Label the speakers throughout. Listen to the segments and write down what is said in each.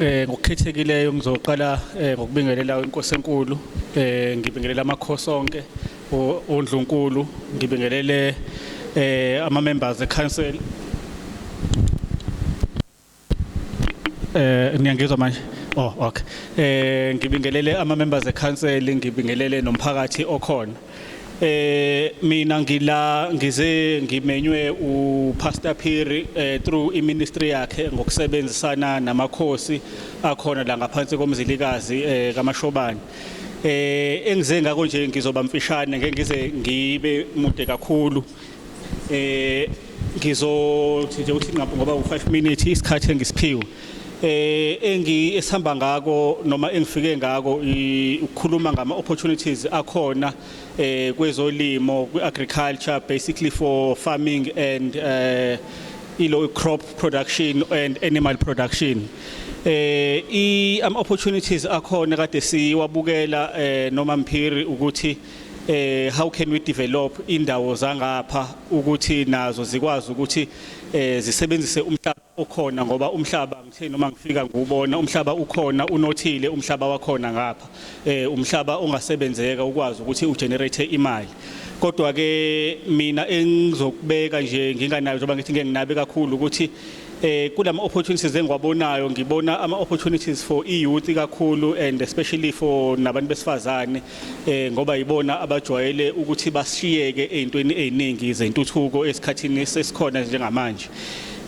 Speaker 1: Eh ngokukhethekileyo ngizoqala eh, ngokubingelela inkosi enkulu eh ngibingelela amakhosi onke ondlunkulu ngibingelele eh ama members e council eh niyangizwa manje oh okay eh ngibingelele ama members e council ngibingelele nomphakathi okhona Eh mina ngila ngize ngimenywe uPastor Phiri eh, through iministry yakhe ngokusebenzisana namakhosi akhona la ngaphansi komzilikazi eh, kaMashobane. Eh engize ngako nje ngizoba mfishane ngeke ngize ngibe mude kakhulu. eh ngizothi nje ukuthi nqapho ngoba u5 minutes isikhathi engisiphiwe eh engi esihamba ngako noma engifike ngako ukukhuluma ngama opportunities akhona eh kwezolimo kwi agriculture basically for farming and eh ilo crop production and animal production eh i am opportunities akhona kade siwabukela eh noma mphiri ukuthi eh how can we develop indawo zangapha ukuthi nazo zikwazi ukuthi eh zisebenzise umhlaba okhona ngoba umhlaba ngithe noma ngifika ngubona umhlaba ukhona unothile umhlaba wakhona ngapha eh umhlaba ongasebenzeka ukwazi ukuthi ugenerate imali kodwa ke mina engizokubeka nje nginganayo njengoba ngithi ngeke nginabe kakhulu ukuthi eh kulama opportunities engiwabonayo ngibona ama opportunities for i youth kakhulu and especially for nabantu besifazane eh ngoba yibona abajwayele ukuthi basishiyeke ezintweni eziningi zentuthuko esikhathini sesikhona njengamanje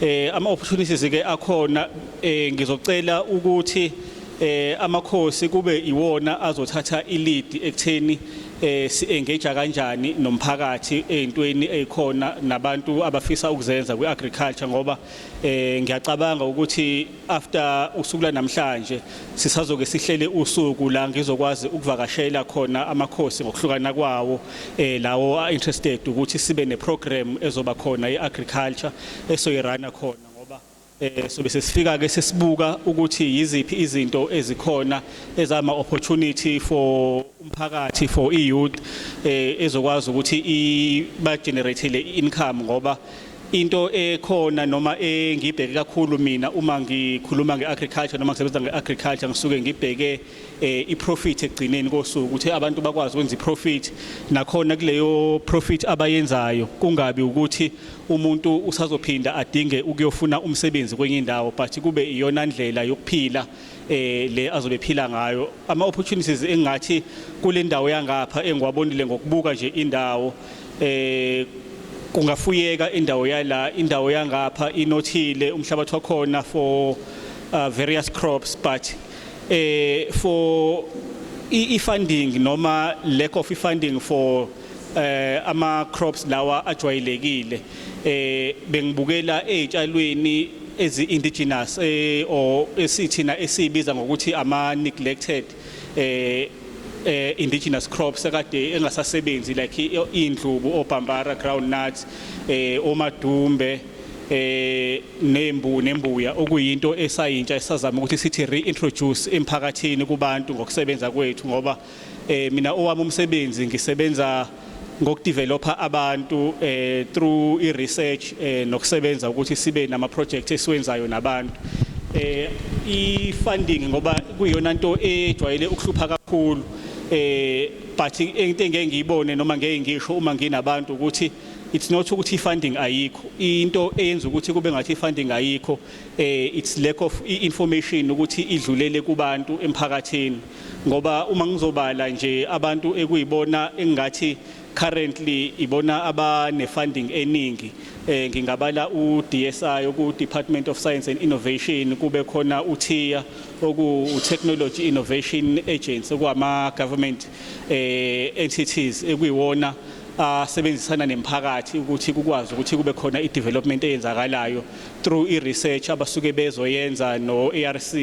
Speaker 1: eh ama opportunities ke akhona eh ngizocela ukuthi eh amakhosi kube iwona azothatha ilead ekutheni eh si-engage kanjani nomphakathi ezintweni ezikhona nabantu abafisa ukuzenza kwi-agriculture ngoba eh ngiyacabanga ukuthi after usuku lanamhlanje sisazoke sihlele usuku la ngizokwazi ukuvakashela khona amakhosi ngokuhlukana kwawo eh lawo a interested ukuthi sibe ne program ezoba khona ye agriculture esoyirana khona ngoba eh sobe sesifika ke sesibuka ukuthi yiziphi izinto ezikhona ezama opportunity for umphakathi for i youth eh ezokwazi ukuthi iba generate le income ngoba Into ekhona noma engibheke kakhulu mina uma ngikhuluma ngeagriculture noma ngisebenza ngeagriculture ngisuke ngibheke eh, iprofit ekugcineni kosuku ukuthi abantu bakwazi ukwenza iprofit nakhona kuleyo profit abayenzayo kungabi ukuthi umuntu usazophinda adinge ukuyofuna umsebenzi kwenye indawo but kube iyona ndlela yokuphila eh le azobe phila ngayo ama opportunities engathi kule ndawo yangapha engiwabonile ngokubuka nje indawo eh kungafuyeka indawo yala indawo yangapha inothile umhlabathi wakhona for uh, various crops but eh for i-funding noma lack of funding for eh ama crops lawa ajwayelekile eh bengibukela ezitshalweni ezi indigenous eh or esithina esibiza ngokuthi ama neglected eh eh indigenous crops akade engasasebenzi like indlubu obhambara ground nuts eh omadumbe eh nembu nembuya okuyinto esayintsha esazama ukuthi sithi reintroduce emphakathini kubantu ngokusebenza kwethu ngoba Eh mina owami umsebenzi ngisebenza ngokudeveloper abantu eh through i research eh nokusebenza ukuthi sibe nama project esiwenzayo nabantu eh i funding ngoba kuyona into ejwayele ukuhlupha kakhulu eh but into engeke ngiyibone noma ngeke ngisho uma nginabantu ukuthi it's not ukuthi funding ayikho into eyenza ukuthi kube ngathi funding ayikho eh it's lack of information ukuthi idlulele kubantu emphakathini ngoba uma ngizobala nje abantu ekuyibona engathi currently ibona abane funding eningi eh ngingabala u DSI oku Department of Science and Innovation kube khona uThiya oku Technology Innovation Agency okwama government eh entities ekuyiwona asebenzisana nemphakathi ukuthi kukwazi ukuthi kube khona i-development eyenzakalayo through i research abasuke bezoyenza no ARC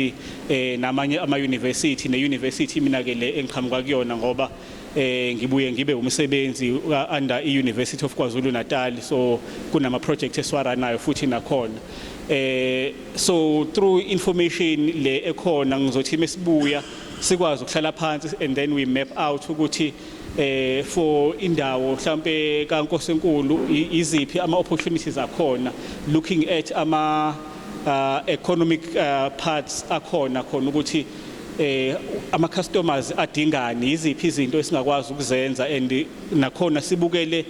Speaker 1: eh namanye ama university ne university mina ke le engiqhamuka kuyona ngoba eh ngibuye ngibe umsebenzi under i University of KwaZulu Natal so kunama project eswaranayo futhi nakhona eh so through information le ekhona ngizothi mesibuya sikwazi ukuhlala phansi and then we map out ukuthi eh for indawo mhlambe kaNkosi enkulu iziphi ama opportunities akhona looking at ama uh, economic uh, parts akhona khona ukuthi eh ama customers adingani iziphi izinto esingakwazi ukuzenza and nakhona sibukele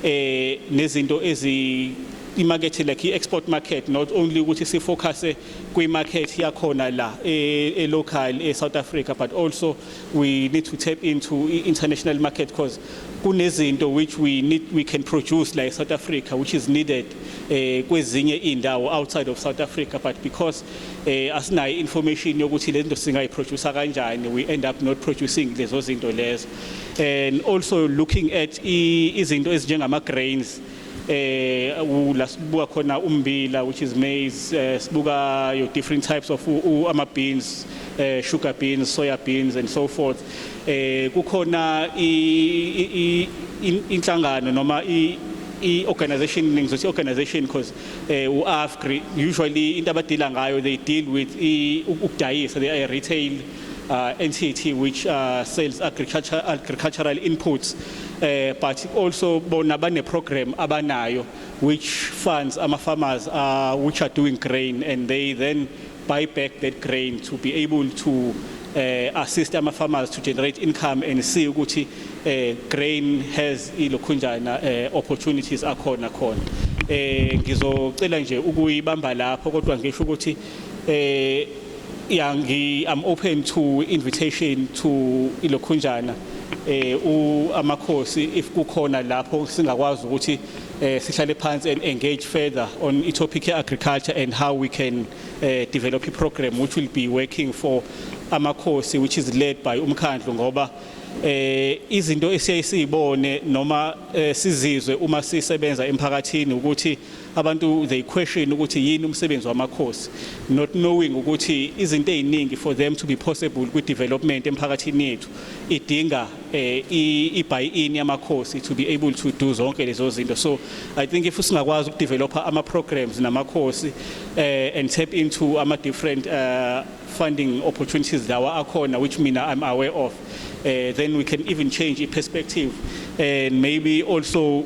Speaker 1: eh nezinto ezi imakethe like i-export market not only ukuthi sifocuse kwi-market yakhona la e-local e-south africa but also we need to tap into international market because kunezinto which we need we can produce like South Africa which is needed eh kwezinye indawo outside of South Africa but because eh asinayo information yokuthi lezinto singayi producer kanjani we end up not producing lezo zinto lezo and also looking at izinto ezinjengama grains e, eh la sibuka khona umbila which is maize eh, sibuka your different types of ama beans eh sugar beans soya beans and so forth eh kukhona inhlangano noma i i-organization ngizothi i-organization because um eh, u-afgri usually into abadila ngayo they deal with ukudayisa they are retail uh, entity which uh, sells agriculture, agricultural inputs uh, but also bona bane-program abanayo which funds ama-farmers uh, which are doing grain and they then buy back that grain to be able to uh, assist ama-farmers to generate income and see ukuthi uh, grain has ilokhunjana uh, opportunities akhona khona eh ngizocela nje ukuyibamba lapho kodwa ngisho ukuthi eh ya ngi I'm open to invitation to ilokhunjana eh u amakhosi if kukhona lapho singakwazi ukuthi eh sihlale phansi and engage further on i topic ye agriculture and how we can eh, develop a program which will be working for amakhosi which is led by umkhandlu ngoba eh izinto esiyayisibone noma eh, sizizwe uma sisebenza emphakathini ukuthi Abantu they question ukuthi yini umsebenzi wamakhosi not knowing ukuthi izinto eziningi for them to be possible kwi development emphakathini yethu idinga eh, i buy in yamakhosi to be able to do zonke lezo zinto so i think if singakwazi uku developer ama programs namakhosi eh, and tap into ama different uh, funding opportunities lawa akhona which mina i'm aware of uh, then we can even change i perspective and maybe also